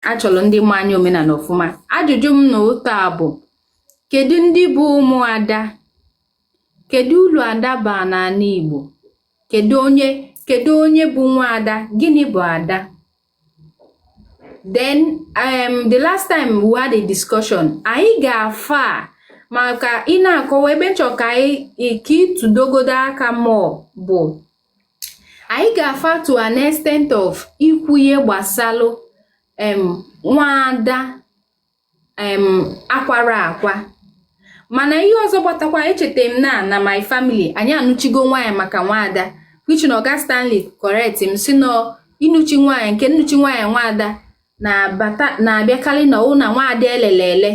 a chọrọ ndị ma anya omenanị ọfụma ajụjụ m na ụta bụ kedu ndị bụ ụmụada kedu ulu ada baa n'anị Igbo kedu onye kedu onye bụ nwa ada gịnị bụ ada then um, the last time we had a discussion anyị gaa far maka ị na-akọwa ebe m chọ ka anyị ka ị tụdogodo aka mụọ bụ anyị gaa far to an extent of ikwu ihe gbasalụ em nwaada em akwara akwa mana ihe ọzọ gbatakwa echeta m na na my family anyị anụchigo nwaanyị maka nwaada which na oga stanley correct m sị na ịnụchi nwaanyị nke nnụchi nwaanyị nwaada na-abịakalị na ụna nwaada elele ele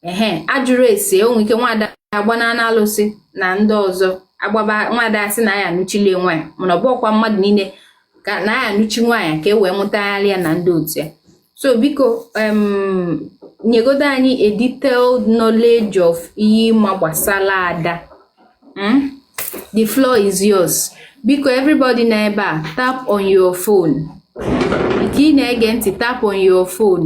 ehe a jụrụ ese o nwe ike nwada agbanana alụsị na ndị ọzọ agbaba nwada a sị na ya anụchili nwaanyị mana ọ bụrọkwa mmadụ niile ka na ya anụchi nwaanyị ka e wee mụtagharị ya na ndị otu ya so biko nyegodo anyị a detailed knowledge of ihe ị ma gbasara ada hmm? the floor is yours biko everybody nọ ebe a tap on your phone ka ị na-ege ntị tap on your phone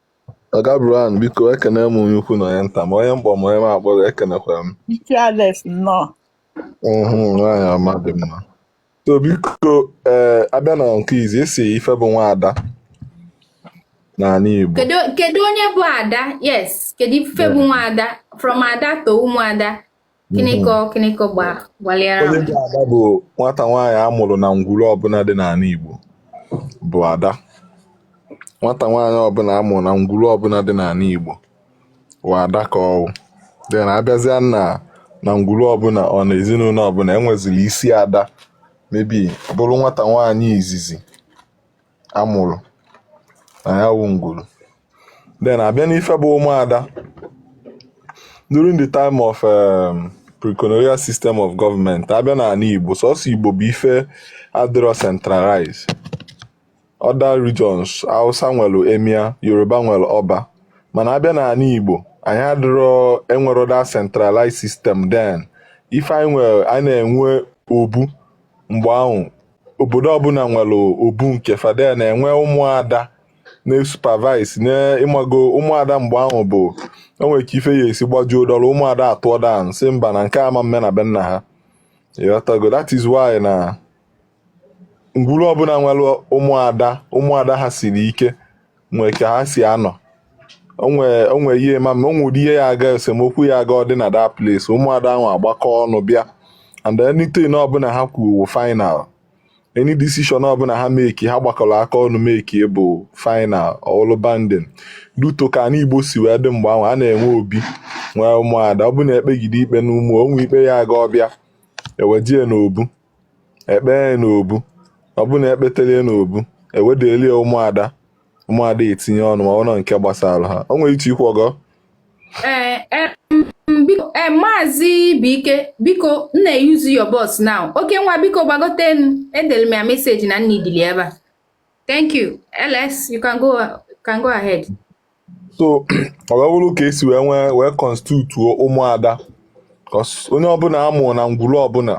Oga Brian, biko ekene m onye ukwu na onye nta ma onye m kpọ ma onye m akpọrọ ekenekwara m. Ike Alex nnọọ. Mhm, nwaanyị ọma dị mma. So biko ee a bịa na nke izi esi ife bụ nwa ada n'anị Igbo. kedu kedu onye bụ ada yes kedu ife bụ nwa ada from ada to ụmụ ada Kiniko mhm. Kiniko gbalịara Olimpi Ada bụ nwata nwaanyị a mụrụ na ngwuru ọbụna dị n'anị Igbo bụ Ada nwata nwaanyị ọbụna a mụrụ na ngwuru ọbụna dị n'anị Igbo bụ Ada ka ọ wụdị na a bịazịa na na ngwuru ọbụna or na ezinụnọ ọbụna e nweziri isi Ada maybe bụrụ nwata nwaanyị izizi a mụrụ na ya wụ ngwuru then a bịa n'ife bụ ụmụada during the time of um, pre-colonial system of government a bịa n'anị Igbo sọsọ Igbo bụ ife adịrọ centralized other regions Hausa nwere Emir Yoruba nwere ọba mana a bịa n'anị Igbo anyị adịrọ enwerọ that centralized system then ife anyị nwere anyị na-enwe obu mgbe ahụ obodo ọbụna nwere obu nke fa then na-enwe ụmụada na-esupervise na ị mago ụmụada mgbe ahụ bụ o nwee ka ife ya-esi gbajuo dọrọ ụmụada atụọ down sị mba na nke ama mme na be nna ha ị ghọtago that is why na ngwuru ọbụna nwere ụmụada ụmụada ha siri ike nwee ka ha si anọ o nwe o nwe ihe ma ma o nwe ụdị ihe ya aga esemokwu ya aga ọ dị na that place ụmụada ahụ agbakọ ọnụ bịa and anything ọbụla ha kwuru final any decision ọbụla ha meki ha gbakọrọ aka ọnụ meki bụ final ọlụ binding due to ka anị igbo si wee dị mgbe ahụ a na-enwe obi nwee ụmụada ọ bụ na e kpegide ikpe n'ụmụ o nwe ikpe ya aga ọ bịa e wejee n'obu e kpee n'obu ọ bụrụ na e kpetelie n'obu e wedelie ụmụada ụmụada etinye ọnụ ma ọ nọ nke gbasara ha o nwere ike ikwu ọgọ ee eh, eh, maazị buike biko nna use your bus now okenwa biko gbagotenu edere m ya meseji na nna idili ebe a thank you ls you can go can go ahead so ọ wee bụrụ ka e si wee nwee wee konstitutuo ụmụada onye ọbụla a mụ na ngwuru ọbụla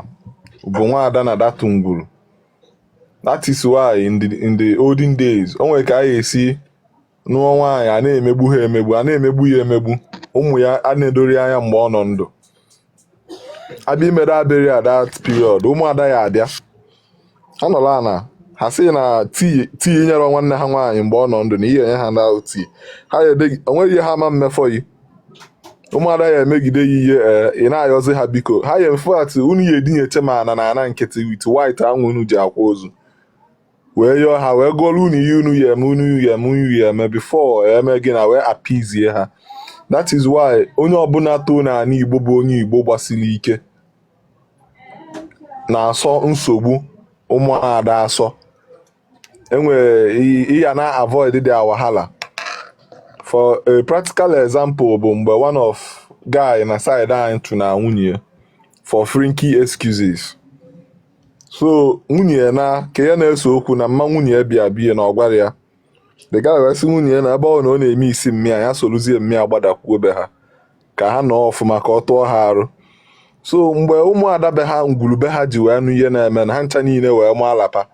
bụ nwaada na that ngwuru that is why in the in the olden days o nwere ka a ga-esi nụọ nwaanyị a na-emegbu ha emegbu a na-emegbu ya emegbu ụmụ ya ana-edori anya mgbe ọ nọ ndụ a bịa imere ya burial that period ụmụada ya abịa ọ nọrọ ana ha sị na tii nyere nwanne ha nwaanyị mgbe ọ nọ ndụ na ihe enye ha na tii ha o nweghị ihe ha ma mmefọ yi ụmụada ya emegide ya ihe eh, ị na-ayọzi ha biko ha ya in fact unu ya edinecha na ana na ana nkịtị with white ahụ unu ji akwa ozu wee yọọ ha wee gụọrọ unu ihe unu ya eme unu ya eme unu ya eme before e mee gịnị wee appease ha that is why onye ọbụla too na ala igbo bụ onye igbo gbasiri ike na-asọ nsogbu ụmụada asọ e nwere ihe na avoid their wahala for a practical example bụ mgbe one of guy na side anyị tụna nwunye for flimsy excuses so nwunye ya na ka ya na-ese okwu na mma nwunye ya bịa bie na ọ gwara ya the guy wee sị nwunye ya na ebe ọ na ọ na-eme isi mma ya ya sorozie mma ya gbadakwuo be ha ka ha nọọ ọfụma ka ọ tụọ ha arụ so mgbe ụmụada be ha ngwuru be ha ji wee nụ ihe na-eme na ha ncha niile wee maa alapa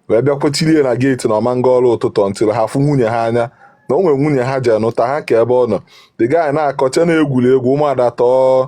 wee bịa kwụchirie na geeti na ọ ma-aga ọrụ ụtụtụ until ha fụ nwunye ha anya na o nwere nwunye ha ji anụta ha ka ebe ọ nọ the guy na-akọcha na-egwuri egwu ụmụada tọọ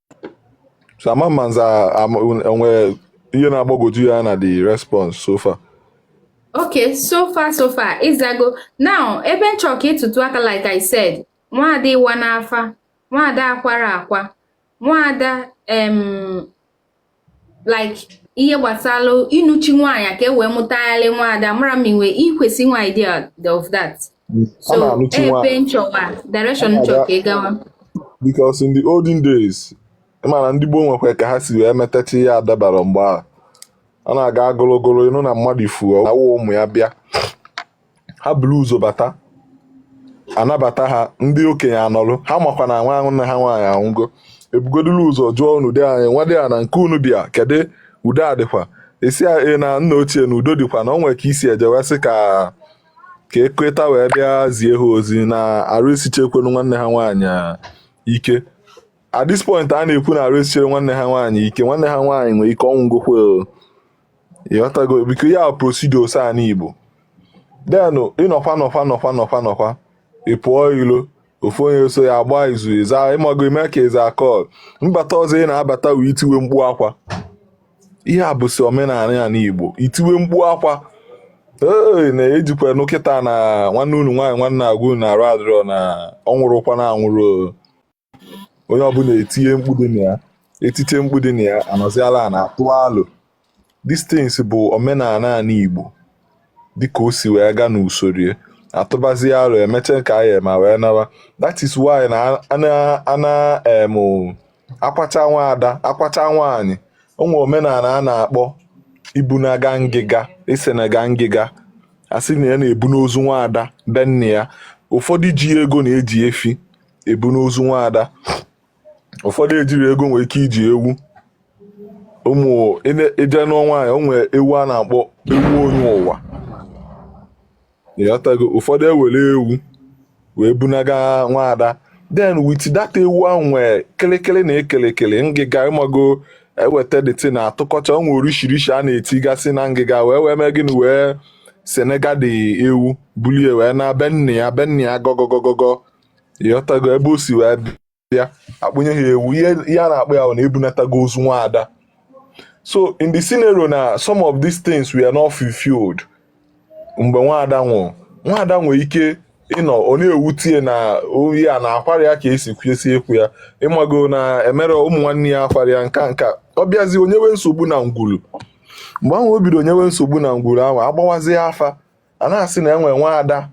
so ama ma nza o nwe ihe na-agbagwoju ya na the response so far okay so far so far ị zago now ebe m chọrọ ka ị tụtụ aka like i said nwaada ịwa n'afa nwaada akwara akwa nwaada em like ihe gbasara ịnụchi nwaanyị ka e wee mụtagharị nwaada mara m i nwe i kwesị nwe idea of that so ebe m chọwa direction m chọ ka ị gawa because in the olden days mana ndị gboo nwekwa ka ha si wee metacha ihe adabara mgbe ahụ ọ na-aga ogologo ịnụ na mmadụ ifu awụ ụmụ ya bịa ha buru ụzọ bata a nabata ha ndị okenye anọlụ ha makwa na nwanne ha nwaanyị anwụgo ebugodulu ụzọ jụọ unu di anyị nwadiana nke unu bịa kedu udo ọ dịkwa a sị ee nna ochie na udo dịkwa na o nwere ka e si eje wee sị ka ka ekweta wee bịa zie ha ozi na arụ esichekwenu nwanne ha nwaanyị ike at this point a na-ekwu na arụ esicherọ nwanne ha nwaanyị ike nwanne ha nwaanyị nwere ike ọ nwụgokwa ịghọtago biko ya procedures anị Igbo then ị nọkwa nọkwa nọkwa nọkwa nọkwa ị pụọ ilo ofu onye so ya agbaa izu ịza ịmago ime ka ịza call mbata ọzọ ị na-abata wee itiwe mkpu akwa ihe a bụsi omenala anị Igbo itiwe mkpu akwa ee na e jikwa nụ kịta na nwanne unu nwaanyị nwa a na-agwa unu na arụ adịrọ na ọ nwụrụkwa na anwụrụ onye ọbụla etinye mkpu dị na ya etite mkpu dị na ya a nọzie ala a na-atụ alo this thing bụ omenala anị Igbo dịka o si wee gaa n'usoro a tụbazie alo e mechaa ka anyị ma wee nawa that is why na ana em akwacha nwaada akwacha nwaanyị o nwee omenala a na-akpọ ibunaga ngịga isenaga ngịga a sị na a na-ebuna ozu nwaada be nne ya ụfọdụ ji ego na-eji efi ebuna ozu nwaada ụfọdụ ejirọ ego nwere ike iji ewu ụmụ ịje nụọ nwaanyị o nwere ewu a na-akpọ ewu onye ụwa ịghọtago ụfọdụ ewere ewu wee bunaga nwaada then with that ewu ahụ nwee kịlịkịlị na ee kịlịkịlị ngịga ịmago eweta dịtị na atụkọcha o nwee orishirishi a na-etigasị na ngịga wee wee mee gịnị wee senaga the ewu bulie wee naa be nne ya be nne ya gọgọgọgọgọ ịghọtago ebe o si wee bịa akpụnye ha ewu ihe a na-akpọ ya bụ na ebunatago ozu nwa ada so in the scenario na some of these things were not fulfilled mgbe nwa ada nwụrụ nwa ada nwere ike ịnọ ọ na-ewute ya na ọ ya na akwarọ ya ka e si kwesị ịkwa ya ịmago na emere ụmụ nwanne ya akwarọ ya nka nka ọ bịazie o nyewe nsogbu na ngwulu mgbe ahụ o bido nyewe nsogbu na ngwuru ahụ agbawazie afa a na-asị na e nwee nwa ada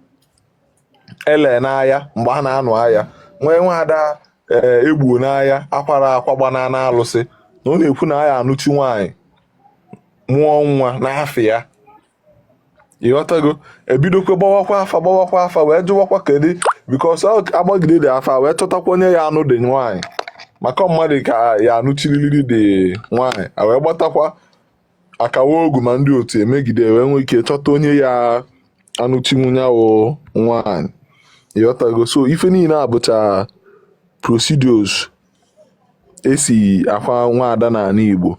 e le n'aya mgbe a na-anụ aya e nwee nwaada ee e gbuo n'aya akwarọ akwa gbana n'alụsị na ọ na-ekwu na a ya-anụchi nwaanyị mụọ nwa n'afa ya ịghọtago ebidokwe gbawakwa afa gbawakwa afa wee jụwakwa kedu because agbagide the afa wee chọtakwa onye ya-anụ the nwaanyị maka mmadụ ka a ya-anụchiriri the nwaanyị a wee gbatakwa akawa ogu ma ndị otu emegide wee nwee ike chọta onye ya anọchinwu ya wụ nwaanyị ịghọtago so ife niine a bụcha procedures e si akwa nwaada n'anị Igbo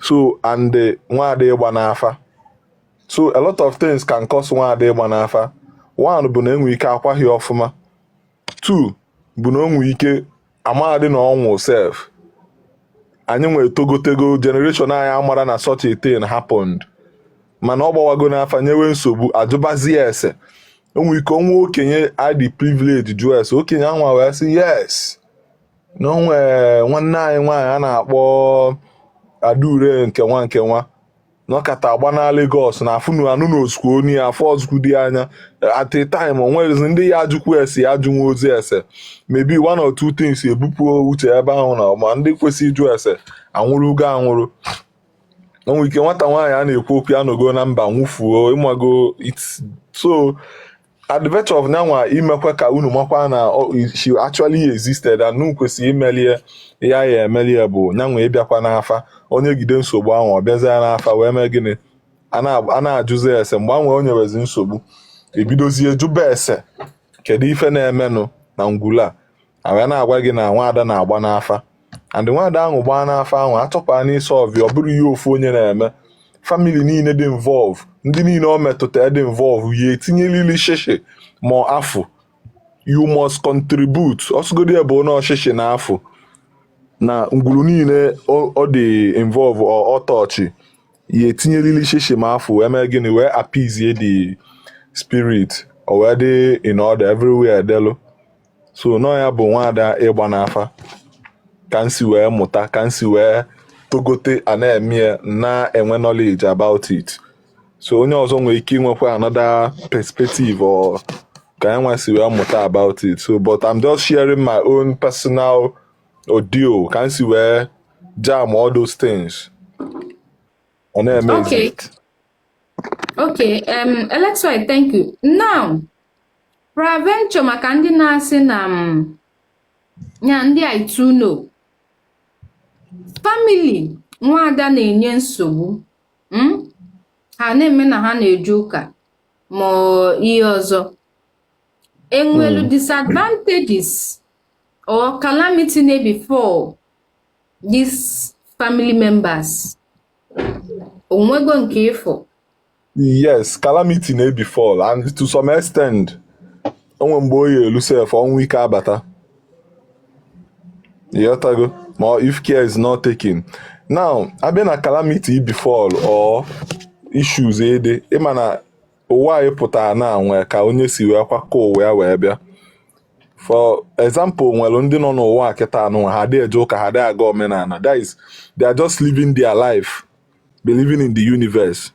so and nwaada ịgba n'afa so a lot of things can cause nwaada ịgba n'afa one bụ na e nwee ike akwaghị ọfụma two bụ na o nwee ike amaghadị na ọnwụ sef anyị nwa etogotego generation anyị amara na such a thing happened mana ọ gbawago n'afa nyewe nsogbu a jụbazie ese o nwee ike o nwee okenye dị privilege jụọ ese okenye anwa wee sị yes na o nwe nwanne anyị nwaanyị a na-akpọ Adaure nke nwa nke nwa nọkata agba na Lagos na afụnu anụ na osuku onye ya afọ ọzụkwu dị anya at a time o nwezi ndị ya ajụkwu ese ya ajụnwa ozi ese maybe one or two things ebupụ uche ebe ahụ na ma ndị kwesị ịjụ ese anwụrụgo anwụrụ o nwee ike nwata nwaanyị a na-ekwu okwu ya nọgo na mba nwụfuo ị mago so at the virtue of nya nwa imekwa ka unu makwa na she actually existed and unu kwesịrị imelie ya ya emelie bụ nya nwa ịbịakwa n'afa o nyegide nsogbu ahụ ọ bịazia n'afa wee mee gịnị a na-ajụzi ese mgbe anwa o nyewezi nsogbu e bidozie jụba ese kedu ife na-emenụ na ngwulu a wee na-agwa gị na nwaada na-agba n'afa and nwaada ahụ gbaa n'afa ahụ atọpaa n'isi ọvị ọ bụrọ ihe ofu onye na-eme famili niile dị involve ndị niile ọ metụta dị involve ya etinyelili shishi ma afụ you must contribute ọsụgodi ebe onye ọchịchị na afụ na ngwuru niile ọ dị involve ọtọchị ya etinyelili shishi ma afụ eme gịnị wee appease the spirit o wee dị in order everywhere delu so nọ ya bụ nwaada ịgba n'afa ka m si wee mụta ka m si wee togote a na-eme na-enwe knowledge about it so onye ọzọ nwere ike inwekwa another perspective or ka anyị nwa si wee mụta about it so but I'm just sharing my own personal ordeal ka m si wee jam all those things ọ na-eme okay. Okay, um, Alexia, thank you. Now, Peradventure maka ndị na-asị na m mm, ya ndị I too know famili nwaada na-enye nsogbu mm, ha na-eme na ha na-eje ụka ma ihe ọzọ e nwelu hmm. disadvantages or calamity na-befall these family members o nwego nke ị fụ yes calamity na-ebefall and to some extent o nwee mgbe ọ ya-elu sef ọnwụ ike abata ịghọtago ma if care is not taken now a bịa na calamity ịbefall or issues ede ị ma na ụwa anyị pụtara na nwee ka onye si wee kwakọ ụwa ya wee bịa for example nwere ndị nọ n'ụwa kịta anụ ha adịghị eje ụka ha adịghị aga omenala that is they are just living their life believing in the universe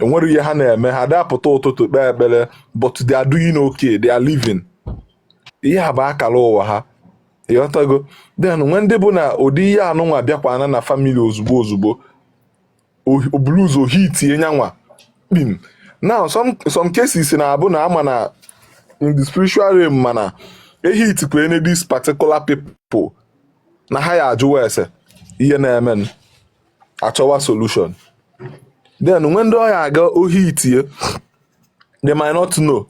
enwere ihe ha na-eme ha ada apụta ụtụtụ kpee ekpere but they are doing okay they are living ihe a bụ akara ụwa ha ịghọtago then nwee ndị bụ na ụdị ihe anụnwa bịakwana na family ozugbo ozugbo o buru ụzọ hitie nyanwa kpim now some some cases na-abụ na a ma na in the spiritual realm ma na e hitikwanụ this particular people na ha ya-ajụwa ese ihe na-emenụ achọwa solution then when ndị ọ ya-aga hitie they might not know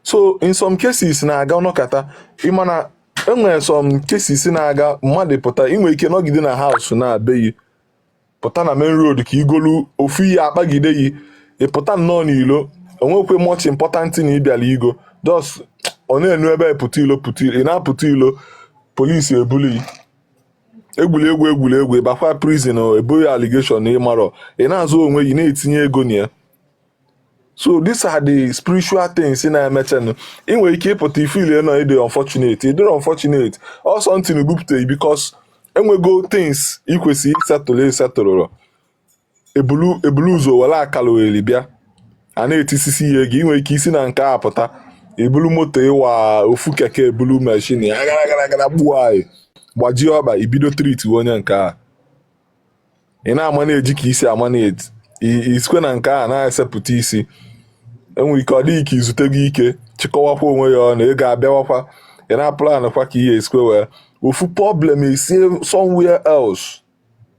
so in some cases na-aga ọ nọkata ị ma na enwere some cases na-aga mmadụ pụta i nwee ike nọgide na house na be yi pụta na main road ka i golu ofu ihe akpagide yi ị pụta nnọọ n'ilo enwekwe much important na ị bịala igo just ọ na-enu ebe pụta ilo pụta ilo ị na-apụta ilo police ebulu i egwuregwu egwuregwu ị bakwa prison e bo gị allegation na ị marọ ị na-azọ onwe gị na-etinye ego na ya so these are the spiritual things na-emechenụ ị nwere ike ịpụta ị feelie na ị dị unfortunate ị dịrọ unfortunate ọ something na-ebupụta because enwego things ị kwesịrị ịsettle ị settlerọ e bulu ụzọ were akara ohere bịa a na-etisisi ihe gị nwere ike isi na nke a pụta i bulu moto ịwa ofu keke ebulu mashin ya gara gara gara gbuo anyị gbajie ọkpa i bido treat onye nke a ị na-ama na-eji ka isi ama na-eti i sikwe na nke a na-esepụta isi enwere ike ọ dị gị ka izute gị ike chịkọwakwa onwe ya ọnụ ị ga-abịawakwa ị na-apụlanụkwa ka ihe esikwe wee ofu problem esi somewhere else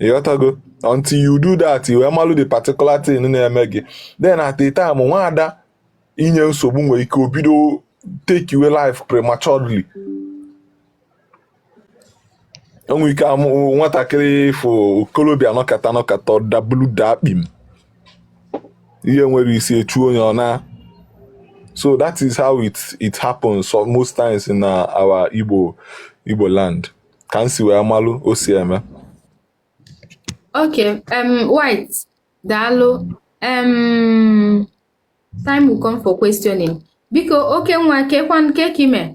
ịghọtago until you do that i wee malụ the particular thing na-eme gị then at the time nwaada inye nsogbu nwere ike o bido take your life prematurely e nwee ike amụ nwatakịrị ị fụ okorobịa nọkata nọkata dabulu daa kpim ihe nwere isi echu onye ọ na so that is how it it happens so most times in uh, our Igbo Igbo land ka m si wee malụ o si eme okay um, white daalụ um, time will come for questioning biko Okenwa kekwanụ kee ka ị mee